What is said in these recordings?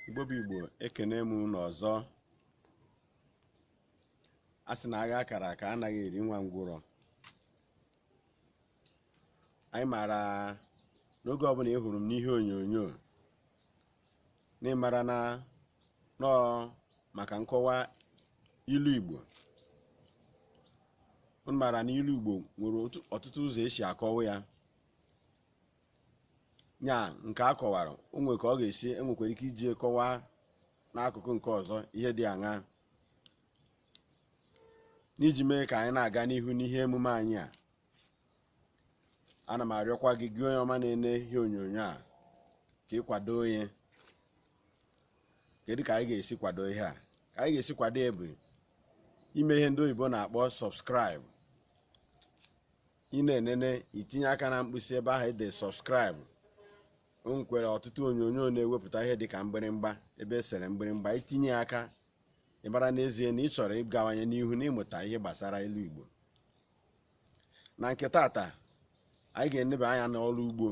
igbo bụ igbo ekenee m unu ọzọ a sị na agha a kara aka anaghị eri nwa ngwụrọ anyị maara n'oge ọbụla ị hụrụ m n'ihe onyonyo na ị mara na m nọ maka nkọwa ilu igbo unu maara na ilu igbo nwere otu- ọtụtụ ụzọ e si akọwa ya nya nke a kọwara o nwere ka ọ ga-esi enwekwara ike iji kọwaa n'akụkụ nke ọzọ ihe dị aṅa n'iji mee ka anyị na-aga n'ihu n'ihe emume anyị a ana m arịọkwa gị gị onye ọma na-ene ihe onyonyo a ka ị kwado anyị kedu ka anyị ga-esi kwado ihe a ka anyị ga-esi kwado ya bụ ime ihe ndị oyibo na-akpọ subscribe ị na-enene i tinye aka na mkpịsị ebe ahụ e dere subscribe o nwekwere ọtụtụ onyonyo na-ewepụta ihe dị ka mgbịrịmgba ebe e sere mgbịrịmgba i tinye aka a mara n'ezie na ị chọrọ ịgawanye n'ihu n'ịmụta ihe gbasara ilu igbo na nke tata anyị ga-eneba anya n'ọrụ ugbo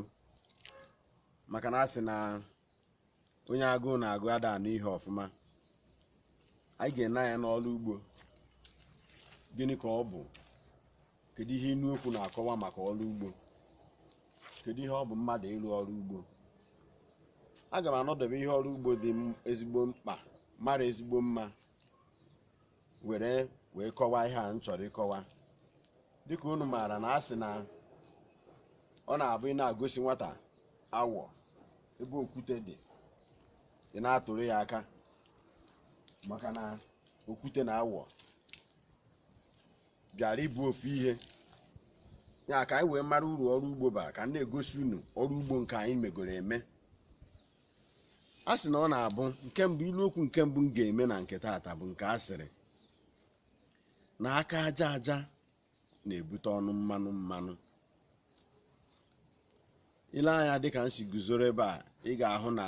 maka na a sị na onye agụụ na-agụ ada anụ ihe ọfụma anyị ga-ene anya n'ọrụ ugbo gịnị ka ọ bụ kedu ihe inu okwu na-akọwa maka ọrụ ugbo kedu ihe ọ bụ mmadụ ịrụ ọrụ ugbo aga m anọdebe ihe ọrụ ugbo dị ezigbo mkpa mara ezigbo mma were wee kọwaa ihe a m chọrọ ịkọwa dịka unu maara na a sị na ọ na-abụ ị na-agosi nwata awọ ebe okwute dị ị na-atụrụ ya aka maka na okwute na awọ bịara ịbụ ofu ihe ya ka anyị wee mara uru ọrụ ugbo bara ka m na-egosi unu ọrụ ugbo nke anyị megoro eme a sị na ọ na-abụ nke mbụ ilu okwu nke mbụ m ga-eme na nke taata bụ nke a sịrị na aka aja aja na-ebute ọnụ mmanụ mmanụ i lee anya dịka m si guzoro ebe a ị ga-ahụ na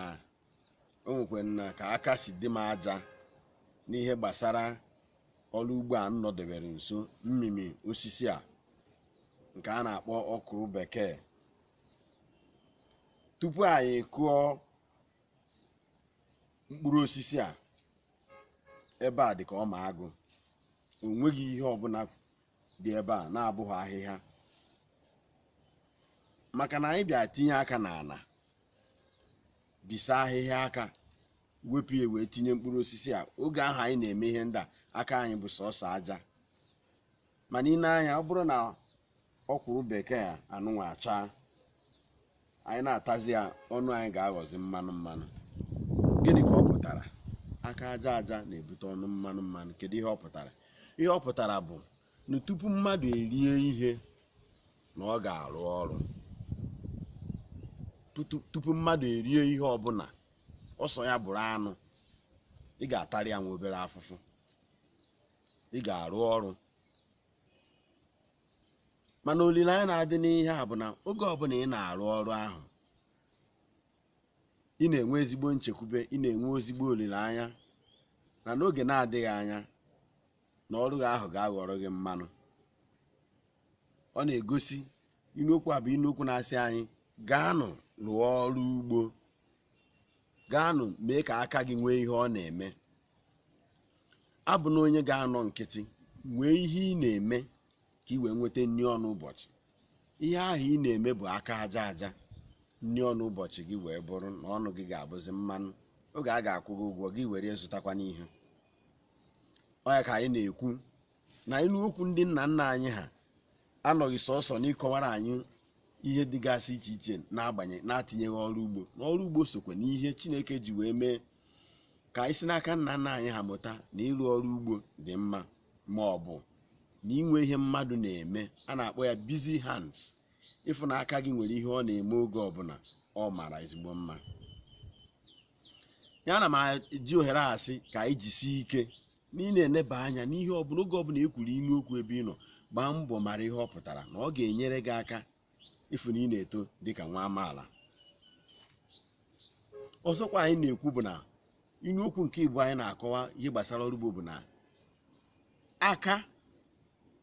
o nwekwanụ ka aka si dị m aja n'ihe gbasara ọrụ ugbo a m nọdebere nso mmimi osisi a nke a na-akpọ ọkwụrụ bekee tupu anyị kụọ mkpụrụ osisi a ebe a dị ka ọma agụ o nweghị ihe ọbụla dị ebe a na-abụghị ahịhịa maka na anyị bịa tinye aka n'ala bisa ahịhịa aka wepụ ya wee tinye mkpụrụ osisi a oge ahụ anyị na-eme ihe ndị a aka anyị bụ sọsọ aja mana i nee anya ọ bụrụ na ọkwụrụ bekee a anụnwa achaa anyị na-atazi ya ọnụ anyị ga-aghọzi mmanụ mmanụ gịnị ka ọ pụtara aka aja aja na-ebute ọnụ mmanụ mmanụ kedu ihe ọ pụtara ihe ọ pụtara bụ na tupu mmadụ erie ihe na ọ ga-arụ ọrụ tupu mmadụ erie ihe ọbụla ọsọ ya bụrụ anụ ị ga-atarị ya nwa obere afụfụ ị ga-arụ ọrụ mana olileanya na-adị n'ihe a bụ na oge ọbụla ị na-arụ ọrụ ahụ ị na-enwe ezigbo nchekwube ị na-enwe ezigbo olileanya na n'oge na-adịghị anya na ọrụ gị ahụ ga-aghọrọ gị mmanụ ọ na-egosi inu okwu a bụ inu okwu na-asị anyị gaanụ rụọ ọrụ ugbo gaanụ mee ka aka gị nwee ihe ọ na-eme abụna onye ga-anọ nkịtị nwee ihe ị na-eme ka ị wee nweta nri ọnụ ụbọchị ihe ahụ ị na-eme bụ aka aja aja nri ọnụ ụbọchị gị wee bụrụ na ọnụ gị ga-abụzi mmanụ oge a ga-akwụ gị ụgwọ gị were zụtakwanụ ihe ọ ya ka anyị na-ekwu na inu okwu ndị nna nna anyị ha anọghị sọsọ n'ịkọwara anyị ihe dịgasị iche iche na-atinyeghị ọrụ ugbo na ọrụ ugbo sokwa n'ihe chineke ji wee mee ka anyị si n'aka nna nna anyị ha mụta na ịrụ ọrụ ugbo dị mma ma ọ bụ na inwe ihe mmadụ na-eme a na-akpọ ya busy hands ịfụ na aka gị nwere ihe ọ na-eme oge ọbụla ọ mara ezigbo mma ya na m ji ohere a sị ka anyị jisie ike na ị na-eneba anya n'ihe ọbụla oge ọbụla e kwuru inu okwu ebe ị nọ gbaa mbọ mara ihe ọ pụtara na ọ ga-enyere gị aka ịfụ na ị na-eto dịka nwa amaala ọzọkwa anyị na-ekwu bụ na inu okwu nke igbo anyị na-akọwa ihe gbasara ọrụ ugbo bụ na aka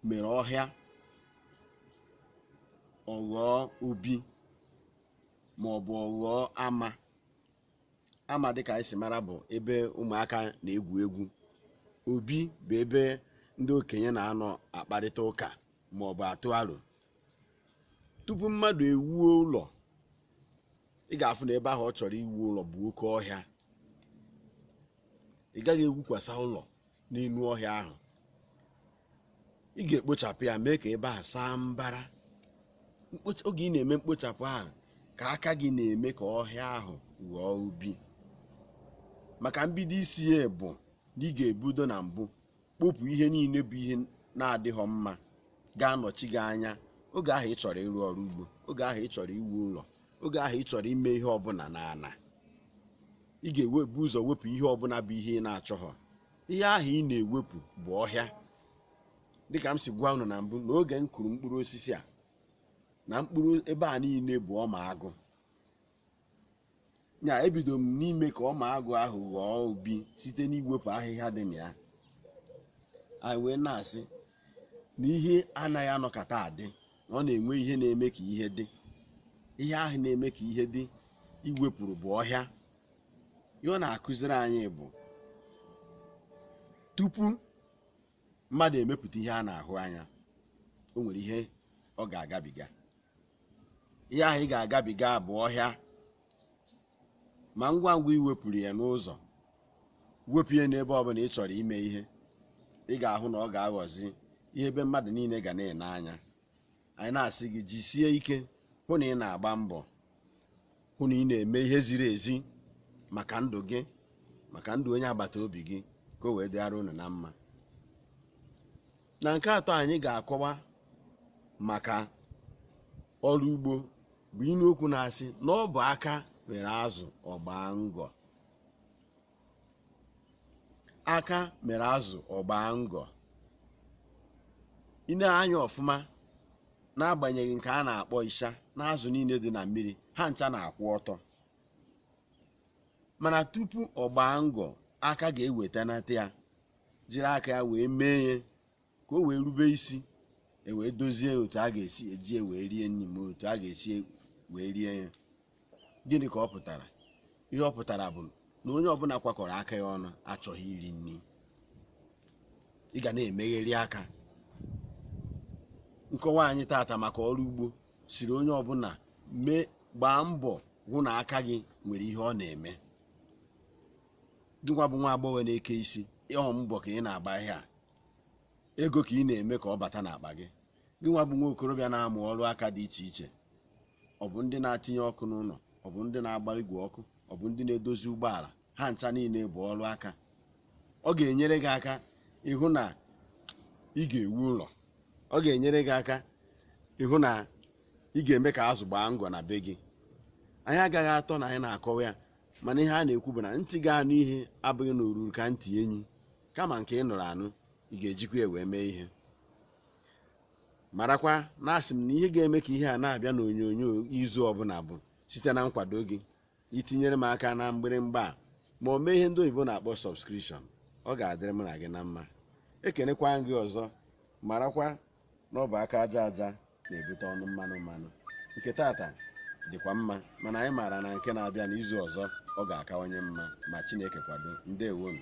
mere ọhịa ọ ghọọ obi ma ọ bụ ọ ghọọ ama ama dịka anyị si mara bụ ebe ụmụaka na-egwu egwu obi bụ ebe ndị okenye na-anọ akparịta ụka ma ọ bụ atụ aro tupu mmadụ ewuo ụlọ ị ga-afụ na ebe ahụ ọ chọrọ iwu ụlọ bụ oke ọhịa ị gaghị ewukwasa ụlọ n'elu ọhịa ahụ ị ga-ekpochapụ ya mee ka ebe ahụ saa mbara Mkpocha- oge ị na-eme mkpochapụ ahụ ka aka gị na-eme ka ọhịa ahụ ghọọ ubi maka mbido isi ya bụ na ị ga-ebudo na mbụ kpopụ ihe niile bụ ihe na-adịghọ mma ga-anọchi gị anya oge ahụ ị chọrọ ịrụ ọrụ ugbo oge ahụ ị chọrọ iwu ụlọ oge ahụ ị chọrọ ime ihe ọbụla n'ana ị ga-ebu ụzọ wepụ ihe ọbụla bụ ihe ị na-achọghọ ihe ahụ ị na-ewepụ bụ ọhịa dịka m si gwa unu na mbụ na oge m kụrụ mkpụrụ osisi a na mkpụrụ ebe a niile bụ ọma agụ nya ebido m n'ime ka ọma agụ ahụ ghọọ ubi site n'iwepụ ahịhịa dị na ya anyị wee na-asị na ihe anaghị anọkata adị na ọ na-enwe ihe na-eme ka ihe dị ihe ahụ na-eme ka ihe dị i wepụrụ bụ ọhịa ihe ọ na-akụziri anyị bụ tupu mmadụ emepụta ihe a na-ahụ anya o nwere ihe ọ ga-agabiga ihe ahụ ị ga-agabiga bụ ọhịa ma ngwa ngwa i wepụrụ ya n'ụzọ wepụ ya n'ebe ọbụla ị chọrọ ime ihe ị ga-ahụ na ọ ga-aghọzi ihe ebe mmadụ niile ga na-ene anya anyị na-asị gị jisie ike hụ na ị na-agba mbọ hụ na ị na-eme ihe ziri ezi maka ndụ gị maka ndụ onye agbata obi gị ka o wee dịara unu na mma na nke atọ anyị ga-akọwa maka ọrụ ugbo bụ inu okwu na-asị na ọ bụ aka mere azụ ọ gbaa ngọ aka mere azụ ọ gbaa ngọ i nee anya ọfụma n'agbanyeghị nke a na-akpọ ịsha na azụ niile dị na mmiri ha ncha na-akwụ ọtọ mana tupu ọ gbaa ngọ aka ga-ewetanata ya jiri aka ya wee mee ya ka o wee rube isi e wee dozie otu a ga-esi eji e wee rie nri ma otu a ga-esi e wee rie ya gịnị ka ọ pụtara ihe ọ pụtara bụ na onye ọbụla kwakọrọ aka ya ọnụ achọghị iri nri ị ga na-emegheri aka nkọwa anyị tata maka ọrụ ugbo sịrị onye ọbụla mee gbaa mbọ hụ na aka gị nwere ihe ọ na-eme gị nwa bụ nwa agbọghọ na-eke isi ọ mbọ ka ị na-agba ihe a ego ka ị na-eme ka ọ bata n'akpa gị gị nwa bụ nwa okorobịa na-amụ ọrụ aka dị iche iche ọ bụ ndị na-atinye ọkụ n'ụlọ ọ bụ ndị na-agba igwe ọkụ ọ bụ ndị na-edozi ụgbọala ha ncha niile bụ ọrụ aka ọ ga-enyere gị aka ịhụ na ị ga-ewu ụlọ ọ ga-enyere gị aka ịhụ na ị ga-eme ka azụ gbaa ngọ na be gị anyị agaghị atọ na anyị na-akọwa ya mana ihe a na-ekwu bụ na ntị ga-anụ ihe abụghị na o ruru ka ntị enyi kama nke ị nụrụ anụ ị ga-ejikwa ya wee mee ihe marakwa na asị m na ihe ga-eme ka ihe a na-abịa n'onyonyo izu ọbụla bụ site na nkwado gị itinyere m aka na mgbịrịmgba a ma o mee ihe ndị oyibo na-akpọ subscription ọ ga-adịrị m na gị na mma ekenekwaa m gị ọzọ marakwa na ọ bụ aka aja aja na-ebute ọnụ mmanụ mmanụ nke tata dịkwa mma mana anyị maara na nke na-abịa n'izu ọzọ ọ ga-akawanye mma ma Chineke kwado ndewonụ